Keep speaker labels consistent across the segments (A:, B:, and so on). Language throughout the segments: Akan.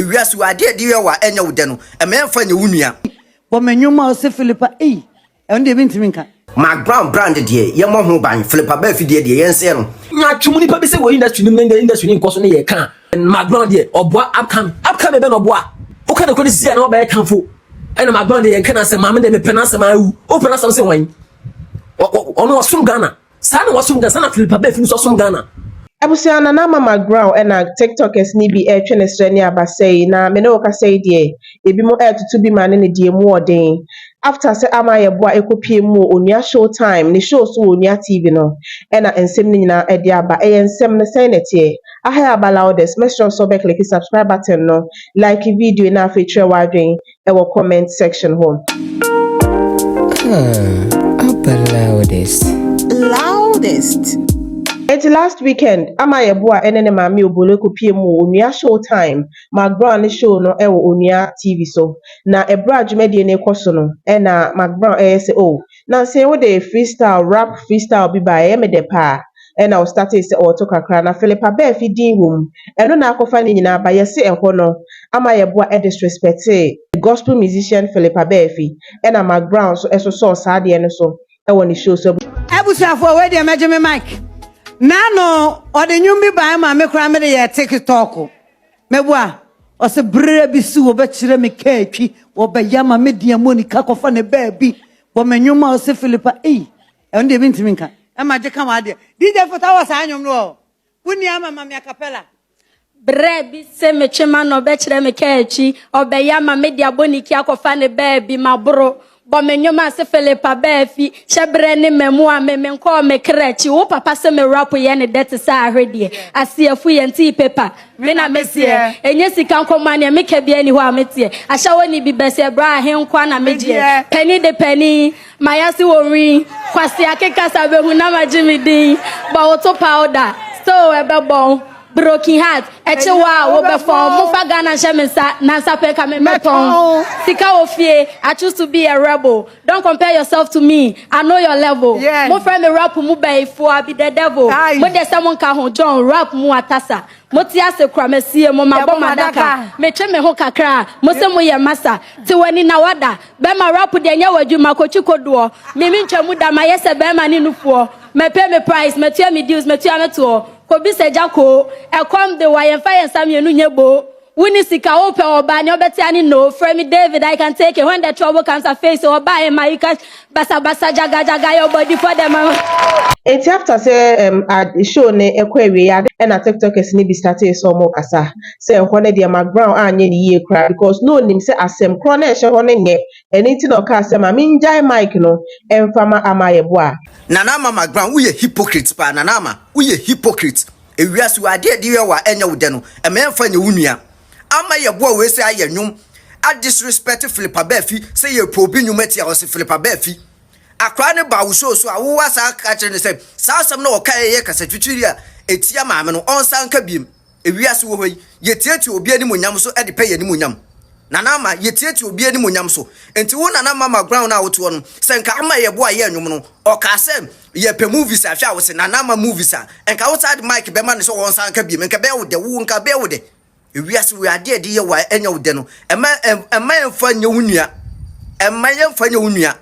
A: Ewiase wɔ adeɛ ɛde yɛ wo a ɛnyɛ wo dɛ no, ɛma yɛmfa nyɛ wo nua. Bɔ me nwom a
B: ɔse Filipa ei ɛno deɛ mentumi nka. Macbrown brand
A: deɛ yɛmmɔ ho ban, Filipa Baa afidie deɛ yɛnsɛɛ no. Nyaatwom nipa bi se
C: wɔ industry no mu na ndɛ industry no nkɔ so ne yɛ ka a, Macbrown deɛ ɔboa upcoming. Upcoming bɛn na ɔboa? Woka nokorɛ no sisi a na wabɛyɛ kamfo ɛna Macbrown deɛ yɛnka n'asɛm maa me deɛ mepɛ n'asɛm aa wu. Wopɛ n'asɛm sen wɔn? Ɔno ɔsom Ghana. Saa na wasom Ghana, saa na Philippa Bafin nso asom Ghana. Abusua Nana
D: Mama Growl ɛna Tiktokers no bi ɛretwe ne srɛ ne abasɛ yi na me ne wo kasa yi deɛ ebinom ɛretoto bi ma ne ne deɛ mu wɔ den after sɛ ama ayɛ boa ɛkɔ pie mu wɔ Onua Show Time ne show so wɔ Onua TV no ɛna nsɛm no nyinaa ɛde aba ɛyɛ nsɛm no sɛn na ɛteɛ aha yɛ aba loudest mɛsrɛ wo sɛ wobɛ click subscribe button no like video yi na afei kyerɛ w'adwene ɛwɔ comment section hɔ. Oh, upper loudest. Loudest. Eti last weekend ama yɛ boa ɛne ne maame obolo ko pie mu onua show time McBrown ne show no ɛwɔ onua TV so na ɛbrɛ a dwumadie no kɔ so no ɛna McBrown ɛyɛ sɛ oh na nse wode freestyle rap freestyle bi bae ɛyɛ me dɛ paa ɛna ɔstartee sɛ ɔɔto kakra na Phillip Abaafi din wɔ mu ɛno na akɔfa ne nyinaa ba yɛse ɛhɔ no ama yɛboa ɛdisrespectee the gospel musician Phillip Abaafi ɛna Mark Brown nso ɛsosɔɔ saa adeɛ no so ɛwɔ ne show so Abusuafoɔ wei deɛ
B: mɛgye me mic. Nano ɔde nnwom bi bae ma me koraa mede yɛɛ tikitɔɔko. Mɛwo a, ɔse berɛ bi so wɔbɛkyerɛ me kaa twi, wɔbɛyɛ ama me deɛ Monica kɔfa ne baabi bɔ me nnwom a ɔse Philippa ei ɛno deɛ mentumi nka. Ɛma gye ka w'adeɛ. DJ Fota wɔ saa nnwom no ɔ wo nni ama ma me acapella. Berɛ
E: bi se metwe m'ano ɔbɛkyerɛ me kaa twi, ɔbɛyɛ ama me deɛ Monica kɔfa ne baabi maboro. Bɔ me nnwom ase Philippa Baafi hyɛ berɛ ne mmamu a me menkɔɔ me kra akyi Wo papa se me rap yɛ ne dɛ te sɛ ahwedeɛ Aseɛfo yɛ ntee paper me na me seɛ Ɛnyɛ sika nkɔmmɔ a neɛ meka biara nni hɔ a me teɛ Ahyɛwɔ ne bi bɛseɛ bra a he nkoa na me gyeɛ Panin de panin maya se wɔ nwi Kwasea keka sa bɛhu na magye me din Bɔ wo to powder so ɛbɛbɔn Broken heart ɛkye wo a wo bɛfɔn Mo nfa Ghana nhyɛ me nsa na nsa pɛ nka me mɛtɔn Sika wɔ fie I choose to be a rebel Don't compare yourself to me I know your level Mo frɛ me rap mu bayifoɔ I be the devil Mo deɛ sɛ mo nka ho John rap mu atasa Mo te ase kora masie mo mabɔ m'adaka Me twe me ho kakra a mo se mo yɛ masa Te w'ani na wada bɛma rap deɛ nyɛ w'adwuma kɔ twi kodoɔ Me mentwa mu da mayɛ sɛ bɛma ne nufoɔ Mɛpɛ me price matua me dues matua me toɔ Kobisa agya koo, ɛkɔm de wo a yɛmfa yɛn nsa mmienu nyɛ boo Wonni sika, wopɛ ɔbaa, nea ɔbɛte ane noo Frɛ me David, I can take it when the trouble comes I face it Ɔbaa in my uterus, basa basa, jaga jaga Your body for the mama. Enti
D: after sɛ ɛɛm ad show no ɛkɔ awieɛ ade ɛna tiktokers no bi startee sɛ ɔmo kasa sɛ ɛhɔ no deɛ McBrown anyɛ no yie koraa because na ɔnim sɛ asɛm korɔ na ɛhyɛ hɔ no nyɛ ɛno nti na ɔkaa sɛ ma mengyae mic no ɛmfa ma ama yɛboa Nana Ama McBrown
A: woyɛ hypocrite paa Nana Ama. Woyɛ hypocrite. Ewiase wei adeɛ a yɛde yɛ wo a ɛnyɛ wo dɛ no, ɛma yɛmfa nyɛ wo nua. Ama yɛboa wei sɛ ayɛ nnwom a disrespect Philip Abafi sɛ yɛ probe nnwom atia ɔse Philip Abafi. Akwadaa no baa wo show so a wo asan aka akyerɛ no sɛ saa asɛm no a ɔkaeɛ yɛ kasatwitwiri a ɛtia maame no ɔnsan nka biom. Wiase wɔ hɔ yi, yetiatia obi animuonyam so de pɛ yɛn animuonyam. Nana Ama, Yetiatia obi animuonyam so. Enti wo Nana Ama Maguran no a wotoɔ no, sɛ nka ama yɛ bo a yɛ nnwom no, ɔkaa sɛ yɛpɛ movies a, hwɛ a wo se Nana Ama movies a, nka wo saa de mic bɛma no sɛ ɔnsan nka biom, nka ɛbɛyɛ wo dɛ, wo nka ɛbɛyɛ wo dɛ? Wiase wɔ yi, adeɛ a yɛde yɛ wo a ɛnyɛ wo dɛ no, mma mma yɛmfa nyɛ wo nua, mma yɛmfa nyɛ wo nua.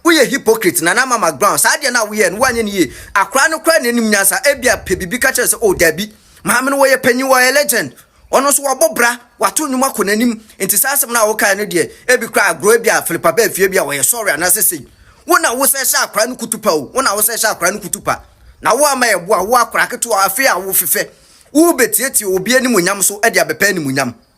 A: Woyɛ hypocrite nana mama ground saa adeɛ no a woyɛɛ no woanyɛ no yie akwadaa no koraa na anim nyansa ebia pɛ biribi ka kyerɛ sɛ oh daabi maame no wɔyɛ panyin wɔyɛ legend ɔno nso wabɔ bra wato nnwom akɔ n'anim nti saa asɛm no a wokae no deɛ ebi koraa agorɔ ebia filipa bɛɛ fie bi a wɔyɛ sɔre anaasɛ sei wo na wosɛ hyɛ akwadaa no kutupa o wo na wosɛ hyɛ akwadaa no kutupa na wo ama yɛ boa wo akwadaa ketewa afei a wofefɛ wobɛtietie obi animuonyam so de abɛpɛ animuonyam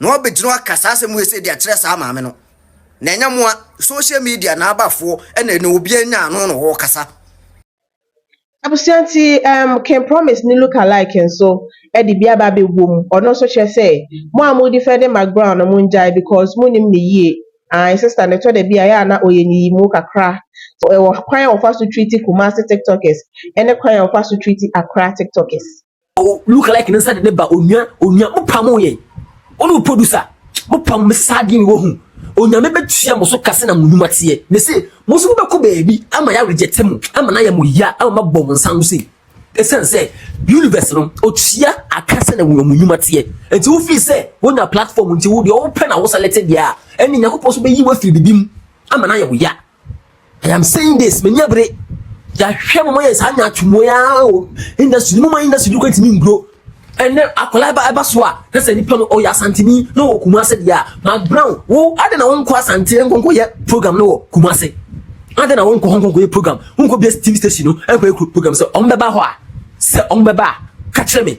A: na wabɛgyina hɔ aka saa asɛm wei sɛ de akyerɛ saa maame no na ɛnyɛ moa social media na abafoɔ ɛna na obiara nya ano na wɔkasa Abusua nti
D: um, King Promise ne look alike nso de bi aba abɛwɔ mu, ɔno nso kyerɛ sɛ mo a mo defending McBrown no mo ngyae because mo nim no yie, ae sister no ɛtɔ da bi a ɛyɛ a na ɔyɛ nyiyimu kakra, ɛwɔ kwan a ɔfa so treat Kumasi tiktokers ɛne kwan a ɔfa so treat Accra tiktokers. o look like
C: ne nsa de ne ba onua onua mo pam yɛn wɔn o producer mo pam me saa deɛ mi wɔ hu onyame bɛtua mo so kase na mo nnwuma teɛ me se mo nso mobɛkɔ baabi ama yɛ aweregyɛte mo ama na yɛ mo ya ama mabɔ mo nsa no sei ɛsiane sɛ universe no ɔtua aka sɛ na wɔn nnwuma teɛ nti wofii sɛ wonya platform nti wo deɛ wopɛ na wosalɛte deɛ a ɛne nyankopɔn so bɛyi wo afiri bibi mu ama na yɛ wo ya I am saying this menya bere yɛahwɛ mama yɛ saa nyaatwomɔ yi ara o industry no ma industry no kɔntumi nguro ɛnɛ akwadaa ɛba ɛba so a na sɛ nipa no ɔyɛ asanteni na ɔwɔ kumase deɛ a mark brown wo adi na wɔnkɔ asante nkɔnkɔ yɛ program no wɔ kumase adi na wɔnkɔ hɔ nkɔnkɔ yɛ program wɔnkɔ bia tv station no ɛnkɔ yɛ program sɛ wɔn bɛba hɔ a sɛ wɔn bɛba a kakyere mi.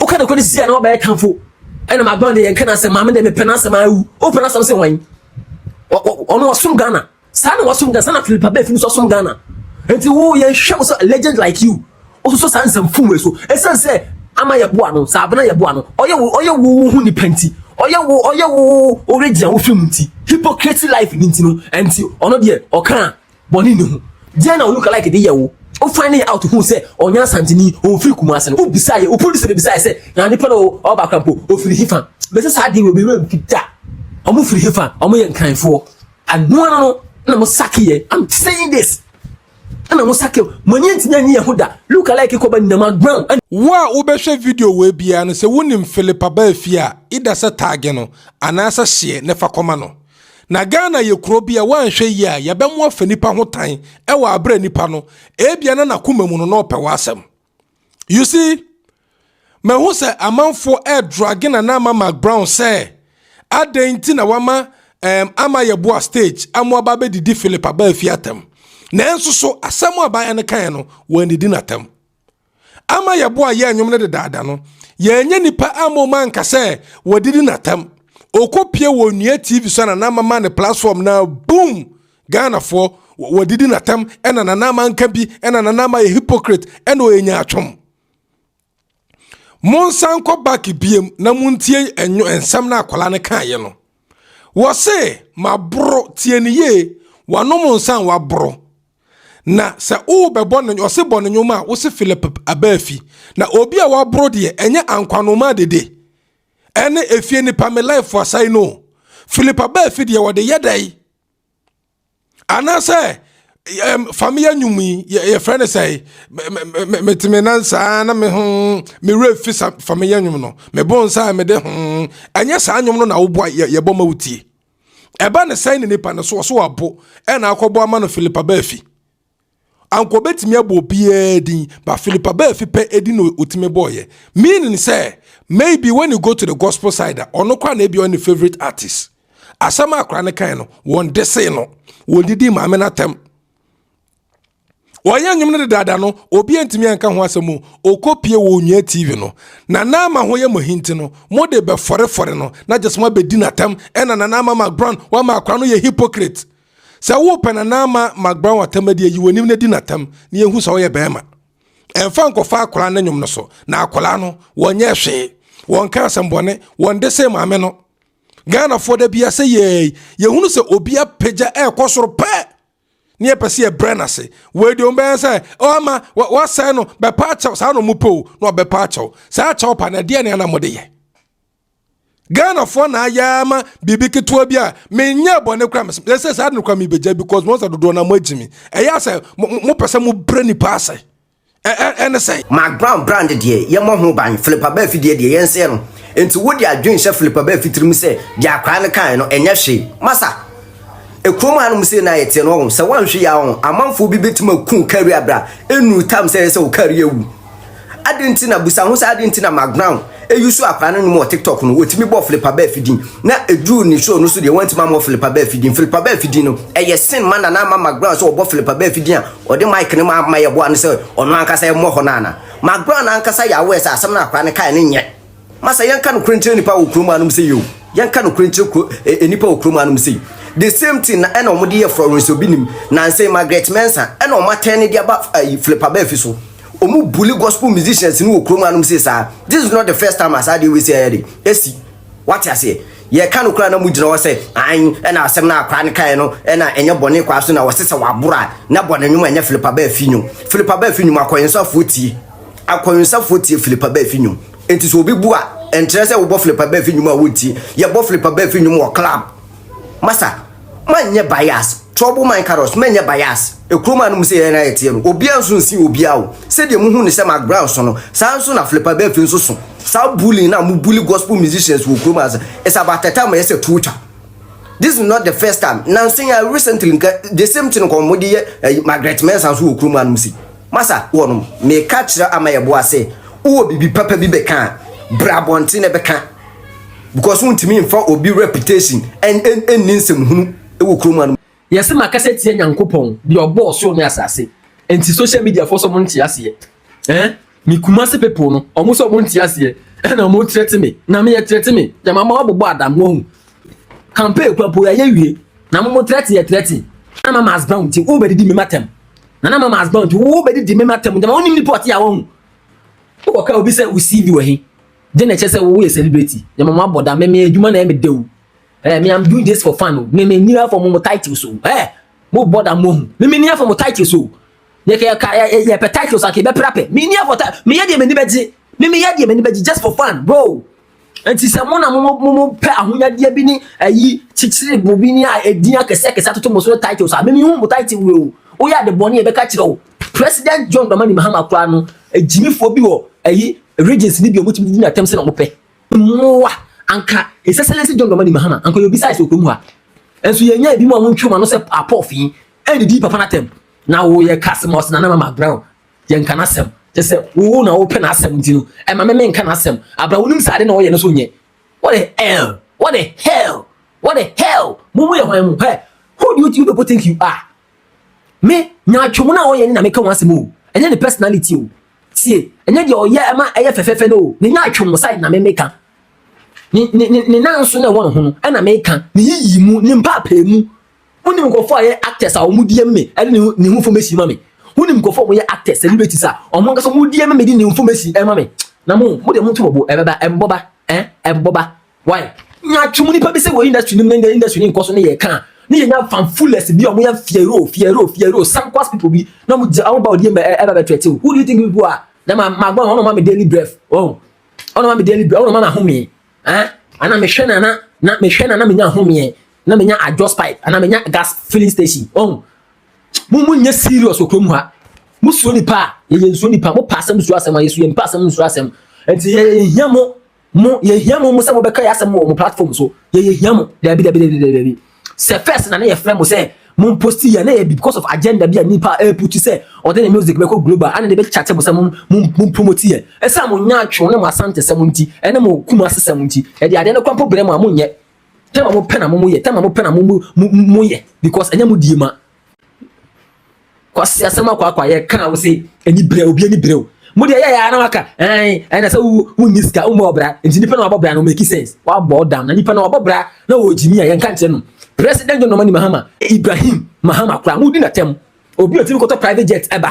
C: woka nokorɛ no sisi a na wabɛyɛ tamfo ɛna magbɔn de yɛnka n'asɛm maame deɛ mepɛ n'asɛm awu wopɛ n'asɛm sɛ wɔn ɔno ɔsom ghana saa na wɔsom ghana saa na philipa bɛɛ fi no so ɔsom ghana nti wo yɛnhwɛ wo sɛ legend like you wososo saa nsɛm fom wei so ɛsiane sɛ ama yɛboa no saa abena yɛboa no ɔyɛ wo ɔyɛ wo wo ho nipa nti ɔyɛ wo ɔyɛ wo wo regye a wofiri mu nti hypocrisy life ni nti no ɛnti ɔno deɛ ɔka a Bɔne nni ho. Deɛn na Olukalike de yɛɛ wo? Wo finding out huu sɛ ɔnyɛ Asanteni, ɔmfiri Kumasi no, wo bisaa yɛ, wo producer bisaa yɛ sɛ, na nipa no a ɔreba Accra mpo, ɔfiri hefa? Mese saa deɛ wɔ me werɛ mfi da. Wɔn firi hefa? Wɔn yɛ Nkranfoɔ. Ɛno ara no na mo sake yɛ. I'm saying this. Ɛna mo sake, mo ani antumi anyi yɛ ho da. Lukalike kɔba nyinam aground. Wo a wobɛhwɛ
F: video wei biara no, sɛ wonim Philip Abaa Fie a, either sɛ tag no, anaasɛ share na fa kɔma no. Na Ghana yɛ kuro bi a woanhwɛ yie a yɛbɛmo afa nipa ho tan wɔ aberɛ nipa no ebia na n'akoma mu no na ɔpɛ w'asɛm. You see, mahu sɛ amanfoɔ ɛredrage Nana Ama Mark Brown sɛ adɛn nti na wama um, ama yɛboa stage ama waba abɛdidi Philip Abaafi atɛm. Nanso so asɛm a abaayewa no kaeɛ no wɔannidi no atɛm. ama yɛbo a yɛ nnwom no dedaada no yɛnyɛ nipa ama ɔma nka sɛ wɔdidi n'atam ɔkɔpie wɔ nnua tv so na nana ama ne platform na boom ghanafoɔ wɔdidi n'atam ɛna nana ama nka bi ɛna nana ama yɛ hypocrite ɛna ɔyɛ nyaatwom monsan kɔ back biem na montie ɛnwo nsɛm na akwadaa no kaeɛ no wɔse maboro tie ne yie wanom nsa waboro Na sɛ worebɛbɔ no ɔse bɔ no nnwom a, wose Philip Abaafi. Na obi a waboro deɛ, ɛnyɛ Ankwanomaa Dede ɛne Efie Nipa Me Life Asae no. Philip Abaafi deɛ wɔde yɛ dɛn? Anaasɛ um, fameyɛ nnwom yi yɛfrɛ no sɛ mete me nan saa na me ho me werɛ fi sa fameyɛ nnwom no mebo nsa a mede ho ɛnyɛ saa nnwom no na woboa yɛbɔ ma wotie ɛba ne sɛn ne nipa no so ɔso abo ɛna akɔbɔ ama no filipa baafi anka obetumi abɔ obiara din ba filipa baafi pɛ edi na otumi bɔɔyɛ meaning sɛ maybe when you go to the gospel side a ɔno kora na ebi ɔne favorite artist asɛm akora ne kan no wɔn de se no wɔn didi maame n'atɛm. Wɔyɛ nnwom no dedaada no, obi antumi anka ho asɛm o. Okopie wɔ Onua TV no. Nana Ama ho yɛ mo ahi nti no, mo de bɛfɔrefɔre no na gyes moabɛdi no atɛm. Ɛna Nana Ama McBrown, wama akora no yɛ hypocrite. Sɛ wopɛ Nana Ama McBrown atɛm adi a, yi w'anim na di no atɛm na yɛnhu sɛ woyɛ bɛɛma. Ɛmfa nkɔfa akora no nnwom no so. Na akora no, wɔnyɛɛ hwee. Wɔnka asɛmbɔne. Wɔnde see maame no. Ghanafoɔ da biaa sɛ yɛɛi, yɛhunu sɛ obi apagya ɛɛkɔ soro pɛɛ. ne yɛpɛ sɛ yɛbrɛ no ase wei deɛ ɔbɛyɛ sɛ ɔma wasɛe no bɛpa akyɛw saa na ɔmo pɛ o na ɔbɛpa akyɛw saa akyɛw pa no ɛdeɛ ne ana mode yɛ ghanafoɔ na ayɛ ama biribi ketewa bi a menyɛ bɔne kora mesɛ saa de no kora mebɛgya because mo sɛ dodoɔ na moagyi me ɛyɛ sɛ mopɛ sɛ mobrɛ nipa ase ɛne sɛn? Markground brand deɛ
A: yɛmmɔ ho ban, Philippa Baa afidie deɛ yɛnsɛɛ no. Enti wode adwene hyɛ Philippa Baa fitirim sɛ deɛ akwadaa no kaeɛ no ɛnyɛ hwee. Masa, ekurom hanom sei no a yɛteɛ no ɔho, sɛ woanhwe yɛ a ɔho, amanfoɔ bi bɛtumi aku wo career berɛ a ɛnnuru time sɛ ɛyɛ sɛ wo career wu. Adɛn nti na, busa ho sɛ adɛn nti na Markground Eusoo akwadaa no nom wɔ TikTok no, wɔtumi bɔɔ Philippa Bell fi din, na ɛduruu ne show no so deɛ, wɔantumi ammɔ Philippa Bell fi din. Philippa Bell fi din no, ɛyɛ sin ma Nana Ama McBrown sɛ ɔbɔ Philippa Bell fi din a ɔde mic no ma ma yɛboa no sɛ ɔno ankasa ɛmmɔ hɔ no ana? McBrown ankasa yɛ aware sɛ asɛm no a akwadaa no kaeɛ no nyɛ ma sɛ yɛnka nokorɛ nkyerɛ nnipa wɔ kurom hanom sei o. Yɛnka nokorɛ nkyerɛ kuro ɛ ɛ nnipa wɔ kurom hanom sei. The same thing na ɛna wɔde yɛɛ Florence Obinim, nansa yi Margaret Mensah ɛna wɔatɛne de aba ayi Philippa Bell fi so. Ɔmo bully gospel musicians no wɔ kurom hanom sei saa. This is not the first time a saa adeɛ wei sei ayɛ de asi. Wate aseɛ? Yɛka no koraa na mogyina hɔ sɛ an ɛna asɛm no a akwaa no kaeɛ no ɛna ɛnyɛ bɔne kwaa so na wɔse sɛ waboro a na bɔ ne nwom ɛnyɛ Philip Abah afi nwom. Philip Abah afi nwom akɔwensafoɔ tie. Akɔwensafoɔ tie Philip Abah afi nwom. Enti sɛ obi bu a ɛnkyerɛ sɛ wobɔ Philip Abah afi nwom a wontie. Yɛbɔ Philip Abah afi nwom wɔ club. Masa, manyɛ bias, trouble mind carrots, manyɛ bias, ekurom a no mo sɛ yɛn na yɛteɛ no, obiara nso nsi obiara o, sɛdeɛ mo hu no sɛ McBrown so no, saa ara nso na Flipper Beff nso so, saa bullying no a mo bully gospel musicians wɔ kurom ha nso, it's about a time ɛyɛ sɛ tuo twa, this is not the first time, nanso yi ara recently nka the same thing nka wɔn de yɛ ɛyi Margaret Mensah nso wɔ kurom ha no mo sei. Masa, wɔ nom, meka kyerɛ Amayɛboa sɛ, wowɔ biribi papa bi bɛka a, bra abɔnten na bɛka. because wontumi nfa obi reputation nni nsɛmhunu wɔ kurom ha no mu. Yɛse makasa tia
C: Nyankopɔn deɛ ɔbɔɔ soro ne asase nti social media foɔ sɛ ɔmo nte aseɛ eh me Kumasi people no ɔmo sɛ ɔmo nte aseɛ ɛna ɔmo threaten me na meyɛ threaten me na mama wabobɔ adam wahu campaign kura po yɛyɛ wie na mo mo threaten yɛ threaten na mama as bound nti wobɛdidi me matam na na mama as bound nti wobɛdidi me matam na ma wonim nipa ɔte a wahu wobɔka obi sɛ wo CV wɔ he Then na ɛkyerɛ sɛ wo woyɛ celebrity. Yɛ mama abɔ da meme adwuma na ɛyɛ me dew. Eh, me I'm doing this for fun o. Me me ni afɔ mo mo titles o. Eh, mo bɔ da mo hu. Me me ni afɔ mo titles o. Yɛ kɛ ka yɛ yɛ pɛ titles ake bɛ pra pɛ. Me ni afɔ ta me yɛ deɛ m'ani bɛgye. Me me yɛ deɛ m'ani bɛgye just for fun bro. Nti sɛ mo na mo mo mo pɛ ahonyadeɛ bi ne ayi kyekyere bo bi ne a edin akɛse akɛse atoto mo so ne titles a me me hu mo title wo o. Woyɛ ade bɔne yɛbɛka kyerɛ wo. President John Dramani Mahama koraa no, agyimifoɔ bi wɔ ayi Regents no bi a wɔtumi didi no atɛm sɛ na wɔpɛ mmoa. Anka ɛsɛ sɛ yɛsɛ John Dramani Mahama, anka ɔyɛ obi size wɔ kurom ha. Nso yɛnya ebi mu a wɔntwe wɔn ano sɛ apɔfi ɛdidi papa no atɛm. Na wo yɛ ka asɛm a ɔsɛ Nana Mama Brown, yɛnka n'asɛm. Kyɛ sɛ wo na wopɛ n'asɛm nti no, ɛma me menka n'asɛm. Abra wonim sɛ ade na ɔyɛ no so nyɛ. What the hell? What the hell? What the hell? Mo mo yɛ hwan mo? Hey, who do you people think you are? me nyaatwom no a ɔyɛ no na meka ho asɛm o ɛnyɛ ne personality o tie ɛnyɛ deɛ ɔyɛ ɛma ɛyɛ fɛfɛɛfɛ no o ne nyaatwom no side na me meka ne ne ne ne nan so na ɛwɔ ne ho no ɛna meka ne yiyi mu ne mpaapaa mu wonim nkurɔfoɔ a yɛ actors a wɔn di ɛmi me ɛde ne ne ho fam esi ma me wonim nkurɔfoɔ a wɔn yɛ actors celebrities a wɔn ankasa wɔn di ɛmi me de ne ho fam esi ɛma me na mo mo deɛ mo nto mo bo ɛbɛba ɛmbɔba ɛ ɛmbɔba Why? Yɛatwe mu nipa bi sɛ wɔ industry no mu na industry no nkɔ so ne yɛka a ne yɛnya fanfulers bi a wɔyɛ fiero fiero fiero sankwas people bi na wɔn gya wɔn ba ɔdi ɛbɛ ɛbɛ bɛ tɛtɛw who do you think people are na ma ma gbɔn ɔno ma mi daily breath ɔn ɔno ma mi daily breath ɔno ma mi ahome ɛn eh? ana mi hwɛ na na na mi hwɛ na na mi nya ahome ɛn na mi nya adjust pipe ana mi nya gas filling station ɔn mo mo nyɛ serious wɔ kurom ha mo suo nipa a yɛyɛ nsuo nipa mo pa asɛm suo asɛm a yɛ suo yɛ mpa asɛm nsuo asɛm nti yɛ yɛ hia mo. Mo, yɛhia mo mo sɛ mobɛka yɛ asɛm wɔ mo platform so. Yɛ yɛhia mo. Dabi, dabi, dabi, dabi, dabi. Sɛ first na na yɛfrɛ mo sɛ mo posti yɛ na yɛ bi because of agenda bi a nipa a ɛreputu sɛ ɔde ne music bɛkɔ global ana na yɛbɛkyate mo sɛ mo mo mo promote yɛ. Ɛsiane mo nyaatwom ne mo asantesɛm nti ɛne mo Kumasesɛm nti yɛde adeɛ no kora mpo brɛ mo a monyɛ. Tɛm a mopɛ na mo mo yɛ, tɛm a mopɛ na mo mo mo mo yɛ because ɛnyɛ mo die ma. kwasi asɛm akɔ akɔ a yɛka a wosɛ ani berɛ obi ani berɛ o mo deɛ yɛyɛ ara na waka ɛn ɛna sɛ wo wonni sika wommɔ ɔbra nti nipa na wabɔ bra no make sense wabɔ ɔdam na nipa na wabɔ bra na wɔgyimi a yɛnka nkyerɛ no president john nomani mahama ibrahim mahama koraa modi natɛm obi otumi kɔtɔ private jet ɛba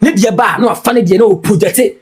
C: Ne deɛ ba a na wafa ne deɛ na ɔwɔ projɛte.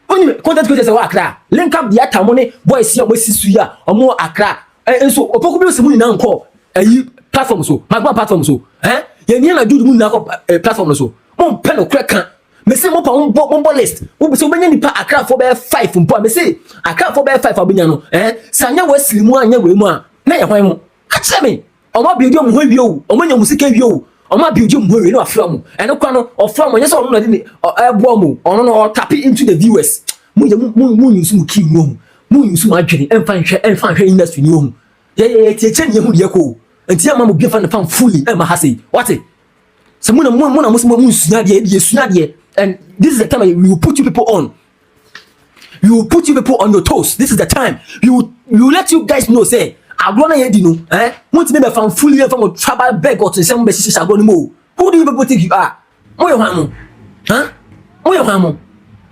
C: Wonim content creators a ɛwɔ Accra a? Linka Biata mo ne boys yi a wɔasi so yi a wɔn wɔ Accra eh, nso Opoku Music mo nyinaa nkɔ ayi platform so, Magma platform so eh? Yɛn nyinaa na Jude mo nyinaa kɔ eh, platform no so. Mo mpɛ no korɛ ka. Mese mo pa mo bɔ mo bɔ list. Wo sɛ wobɛnya nipa Accrafoɔ bɛyɛ five mpo a mese Accrafoɔ bɛyɛ five a wobɛnya no eh? Sɛ anyɛ wɔ asiri mu anyɛ wɔ mu a na yɛ hwan ho? Ka kyerɛ me. Ɔmo abiogye ɔmo ho awie o, ɔmo anya ɔmo sika awie o, ɔmo abiogye ɔmo ho awie na wafra mo. Ɛno kora no, ɔfra mo, ɛnyɛ sɛ ɔno na ɔde ne ɔ ɛɛboa mo o, ɔno no ɔ tap into the viewers. Mo deɛ mo mo mo use mo key ngu ohu, mo use mo adwene ɛnfa nhwɛ ɛnfa nhwɛ industry ni ohu. Yɛ yɛ yɛ tiatia ni yɛ hu deɛ ɛkɔ o, nti yɛ mma mo bi nfa ne fan fully ɛmma ha sei. Wate? Sɛ mo na mo mo na mo se mo mo nsua adeɛ, yɛ deɛ yɛ sua adeɛ and this is the time we will put you people on we will put you people on your toes this is the time we will, we will let you guys know say agorɔ na yɛ di no ɛn mo ti mi bɛ fa nfuli yɛ fa mo traba bɛg ɔtun sɛ mo bɛ sisi agorɔ no mu o who do you people think you are mo yɛ hwan mo ɛn mo yɛ hwan mo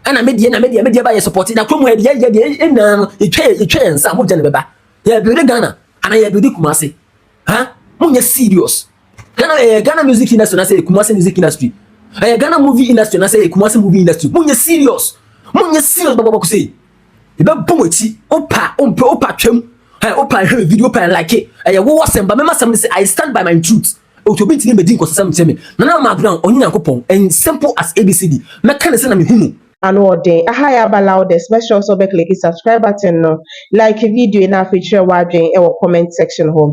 C: ɛna mi deɛ na mi deɛ mi deɛ ba yɛ sɔpɔti na kurom yɛ deɛ yɛ deɛ ɛnna no etwa yɛ etwa yɛ nsa mo gya ne bɛ ba yɛ bi de ghana ana yɛ bi de kumase. ha monyɛ serious ghana ɛyɛ ghana music industry anasɛ kumase music industry ɛyɛ ghana movie industry anasɛ ɛyɛ kumase movie industry monyɛ serious monyɛ serious bɔbɔbɔkɔ sɛ yɛbɛbɔ mo akyi wopa wompɛ wopa twam ɛ wopa hwɛ video wopa like ɛyɛ wowɔ asɛm ba mɛma asɛm no sɛ i stand by my truth otu obi ntumi mbɛdi nkɔsɛsɛm nkyɛn me nana ma abraham ɔnye nyankopɔn and simple as abcd mɛka ne sɛ na mehu no Anoɔden aha
D: yɛ aba loudest mɛsrɛ wo sɛ wobɛ click subscribe button no like video yi na afei kyerɛ w'adwen ɛwɔ comment section hɔ.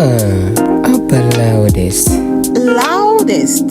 D: Ah,
G: aba loudest. Loudest.